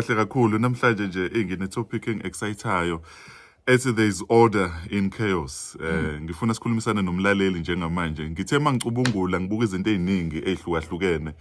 Kahle kakhulu namhlanje nje ingine topic engiexcitayo ethi there is order in chaos. Eh mm. ngifuna sikhulumisane nomlaleli njengamanje. Ngithe mangicubungula ngibuka izinto eziningi ezihlukahlukene.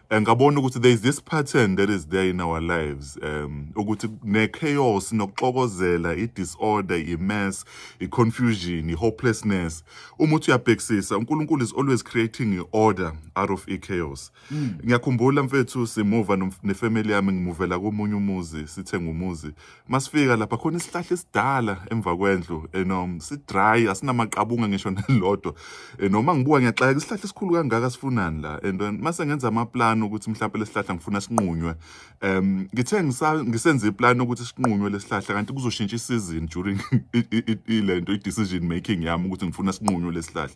Eh, ngabona ukuthi there is this pattern that is there in our lives um ukuthi ne chaos nokuxokozela i disorder i mess i confusion i hopelessness uma uthi uyabhekisisa uNkulunkulu is always creating i order out of i chaos Mm. Ngiyakhumbula mfethu simuva nefamily yami ngimuvela komunye umuzi sithenga umuzi. Masifika lapha khona isihlahla esidala emva kwendlu and um si dry asinamaqabunga ngisho nelodwa. Eh, noma ngibuka ngiyaxaka isihlahla esikhulu kangaka sifunani la and um, mase ngenza ama plan ukuthi mhlawumbe lesihlahla ngifuna sinqunywe. Um ngithe ngisenze iplan ukuthi sinqunywe lesihlahla kanti kuzoshintsha isizini during ilento i decision making yami ukuthi ngifuna sinqunywe lesihlahla.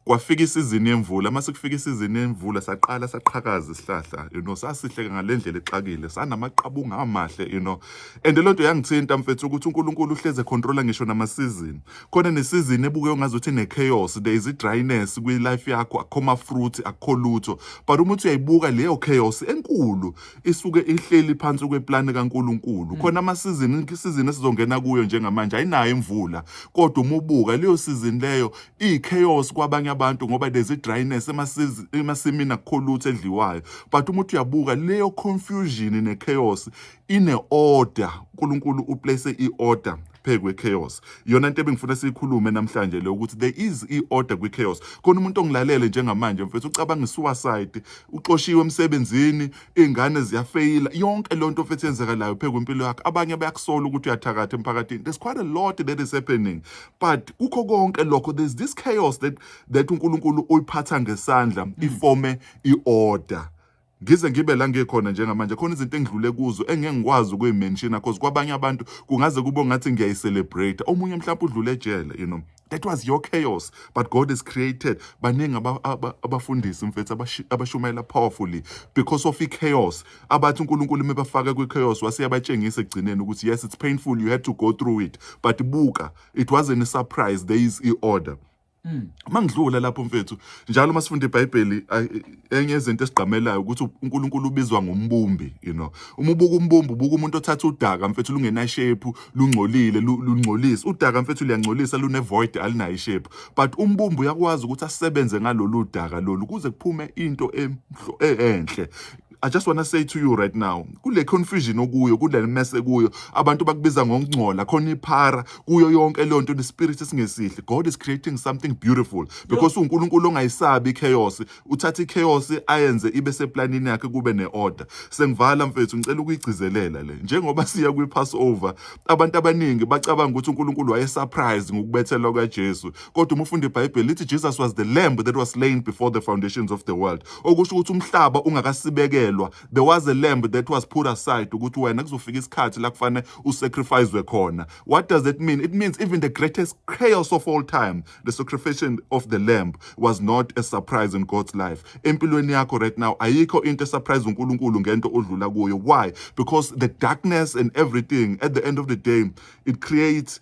kwafika isizini yemvula uma sekufika isizini yemvula saqala saqhakaza isihlahla you know sasihleke ngalendlela exakile sanamaqabunga amahle you know and lento yangithinta mfethu ukuthi uNkulunkulu uhleze controller ngisho namasizini khona nesizini ebuke ungazothi ne chaos there is a dryness kwi life yakho akho ma fruit akho lutho but uma uthi uyayibuka leyo chaos enkulu isuke ihleli phansi kweplane kaNkulunkulu mm. khona amasizini isizini esizongena kuyo njengamanje ayinayo imvula kodwa umubuka leyo sizini leyo iyi-chaos kwabanye abantu ngoba there's i-dryness emasiz- emasimini akukho lutho edliwayo but uma uthi uyabuka leyo confusion ne-chaos ine-order unkulunkulu uplace i-order phe kwe-chaos iyona nto ebengifuna siyikhulume namhlanje leyo ukuthi there is i-order kwi-chaos khona umuntu ongilalele njengamanje mfethu ucabanga i-suicide uxoshiwe emsebenzini iy'ngane ziyafeyila yonke loo nto futhi yenzekalayo phe kwimpilo yakho abanye bayakusola ukuthi uyathakatha emphakathini there's quite a lot that is happening but kukho konke lokho there's this chaos that, that unkulunkulu uyiphatha ngesandla mm. ifome i-order ngize ngibe la ngikhona njengamanje khona izinto engidlule kuzo engeke ngikwazi ukuyimenshina cause kwabanye abantu kungaze kube ngathi ngiyayicelebrate omunye mhlawumbe udlule ejele you know that was your chaos but god has created baningi abafundisi mfethu abashumayela powerfully because of i-chaos abathi unkulunkulu mebafaka kwi-chaos waseyabatshengisa ekugcineni ukuthi yes it's painful you had to go through it but buka it wasn't a surprise there is i-order mm. mangidlula lapho mfethu njalo uma sifunda ibhayibheli enye yezinto esigqamelayo ukuthi uNkulunkulu ubizwa ngombumbi you know uma ubuka umbumbi ubuka umuntu othatha udaka mfethu lungena shape lungcolile lungcolisa udaka mfethu liyangcolisa lune void alinayo shape but umbumbi uyakwazi ukuthi asebenze ngalolu daka lolu kuze kuphume into e-, enhle I just want to say to you right now kule confusion okuyo kule mess ekuyo abantu bakubiza ngokungcola khona iphara kuyo yonke leyo nto nespirit esingesihle god is creating something beautiful because unkulunkulu ongayisabi ichaos uthatha ichaos ayenze ibe seplanini yakhe kube ne-order sengivala mfethu ngicela ukuyigcizelela le njengoba siya kwi-passover abantu abaningi bacabanga ukuthi unkulunkulu wayesurprise ngokubethelwa kajesu kodwa uma ufunda ibhayibheli lithi jesus was the lamb that was slain before the foundations of the world okusho ukuthi umhlaba ungakasibekelwa there was a lamb that was put aside ukuthi wena kuzofika isikhathi la kufanele usacrificewe khona what does that mean it means even the greatest chaos of all time the sacrifice of the lamb was not a surprise in God's life empilweni yakho right now ayikho into esurprise uNkulunkulu ngento odlula kuyo why because the darkness and everything at the end of the day it creates